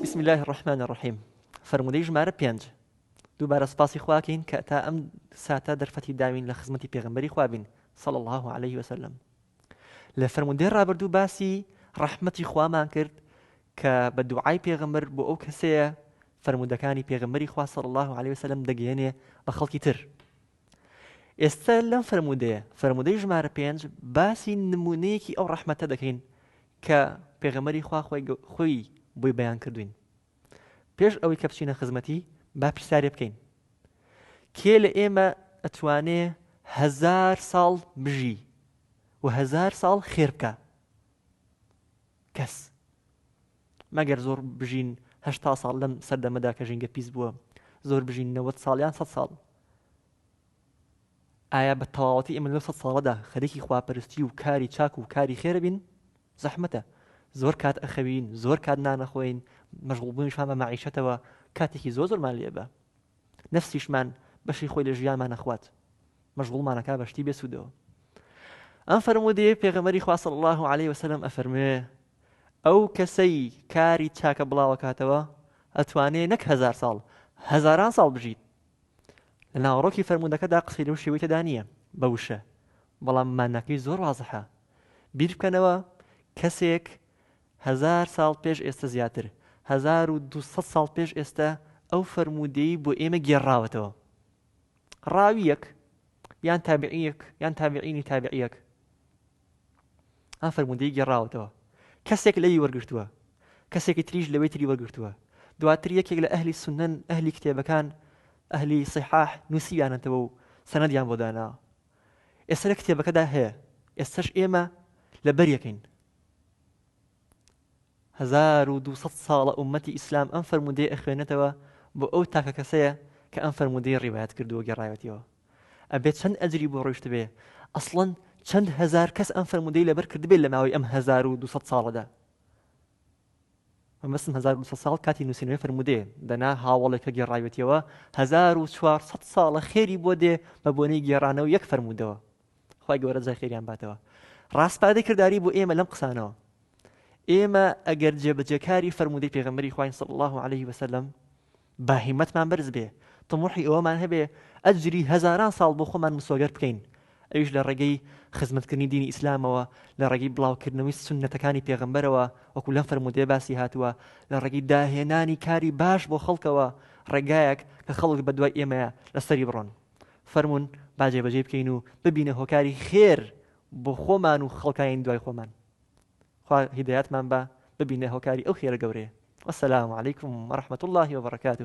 بسم اللە الرحمن الرحیم فەرموودەی ژمارە پێنج دووبارە سپاسی خواکەین کە تا ئەم ساتە دەرفەتی داوین لە خزمەتی پێغمبەری خوابین صلى الله عليه وسلم لە فەرموودەی ڕابردوو باسی ڕەحمەتی خوامان کرد کە بە دوعای پێغمبەر بۆ ئەو کەسەیە فەرمودەکانی پێغمبەری خوا صلى الله عليه وسلم دەگەیەنێ بە خەڵکی تر ئێستا لەم فەرموودەیە، فەرموودەی ژمارە پێنج، باسی نموونەیەکی ئەو ڕەحمەتە دەکەین کە پێغەمبەری خوا خۆی بۆی بەیان کردوین. پێش ئەوەی کە بچینە خزمەتی با پرسیارێ بکەین. کێ لە ئێمە ئەتوانێ هەزار ساڵ بژی و هەزار ساڵ خێر بکە کەس مەگەر زۆر بژین هەشتا ساڵ لەم سەردەمەدا کە ژینگە پیس بووە زۆر بژین نەوەد ساڵ یان سەد ساڵ ئایا بە تەواوەتی ئێمە لەو سەد ساڵەدا خەریکی خواپەرستی و کاری چاک و کاری خێرە بین زەحمەتە زۆر کات ئەخەوین زۆر کات نانەخۆین مەشغوڵبوونیشان بە مەعیشەتەوە کاتێکی زۆر زۆرمان لێبە نەفسیشمان بەشی خۆی لە ژیانمان ئەخوات مەشغوڵمان ئەکا بە شتی بێ سوودەوە ئەم فەرموودەیە پێغەمبەری خوا صلی الله علیه وسلم ئەفەرموێ ئەو کەسەی کاری چاکە بڵاوەکاتەوە ئەتوانێ نەک هزار ساڵ هزاران ساڵ بژیت لە ناوەڕۆکی فەرموودەکەدا قسەی لەو شێوەی تێدا نییە بە وشە بەڵام ماناکەی زۆر وازحە بیر بکەنەوە کەسێک هەزار ساڵ پێش ئێستە زیاتر، هەزار و دوو سەد ساڵ پێش ئێستە ئەو فەرموودەی بۆ ئێمە گێڕراوەتەوە. ڕاوییەک یان تابعیەک یان تابعینی تابعیەک ئەم فەرموودەی گێڕاوەتەوە کەسێک لەوی وەرگرتووە کەسێکی تریش لەوەی تری وەرگرتووە دواتر یەکێک لە ئەهلی سنەن ئەهلی کتێبەکان ئەهلی سیحاح نووسیانەتەوە و سەنەدیان بۆ دانا ئێستا لە کتێبەکەدا هەیە ئێستش ئێمە لە بەریەکەین هەزار و دوو سەد ساڵە ئوممەتی ئیسلام ئەم فەرموودەیە ئەخوێنێتەوە بۆ ئەو تاکە کەسەیە کە ئەم فەرموودەی ڕیوایەت کردووە گێڕایەتیەوە ئەبێ چەند ئەجری بۆ ڕۆیشتبێ ئەسڵەن چەند هەزار کەس ئەم فەرموودەی لەبەر کردبێت لە ماوەی ئەم هەزار و دوو سەد ساڵەدا مەبەستم هەزار و دوو سەد ساڵ کاتی نووسینەوەی فەرموودەیە دەنا هاوڵێک کە گێڕاوێتیەوە هەزار و چوار سەد ساڵە خێری بۆ دێ بە بۆنەی گێڕانەوە یەک فەرموودەوە خوای گەورە جزای خێریان باتەوە ڕاستپادەی کردداری بۆ ئێمە لەم قسانەوە ئێمە ئەگەر جێبەجێکاری فەرمودەی پێغمبەری خوین صل الله عليه وسلم با هیمەتمان بەرز بێ تموحی ئەوەمان هەبێ ئەجری هەزاران ساڵ بۆ خۆمان مسۆگەر بکەین ئەوش لە ڕێگەی خزمەتکردنی دینی ئیسلامەوە لە ڕێگەی بڵاوکردنەوەی سنەتەکانی پێغمبەرەوە وەکو لەم فەرمودێ باسی هاتووە لە ڕێگەی داهێنانی کاری باش بۆ خەڵکەوە ڕێگایەک کە خەڵک بە دوای ئێمەیە لەسەری بڕۆن فەرموون با جێبەجێی بکەین و ببینە هۆکاری خێر بۆ خۆمان و خەڵکانی دوای خۆمان خوا هیدایەتمان بە ببینە هۆکاری ئەو خێرە گەورەیە وەسەلام علیکم وەرحمەت اللهی وبرکاته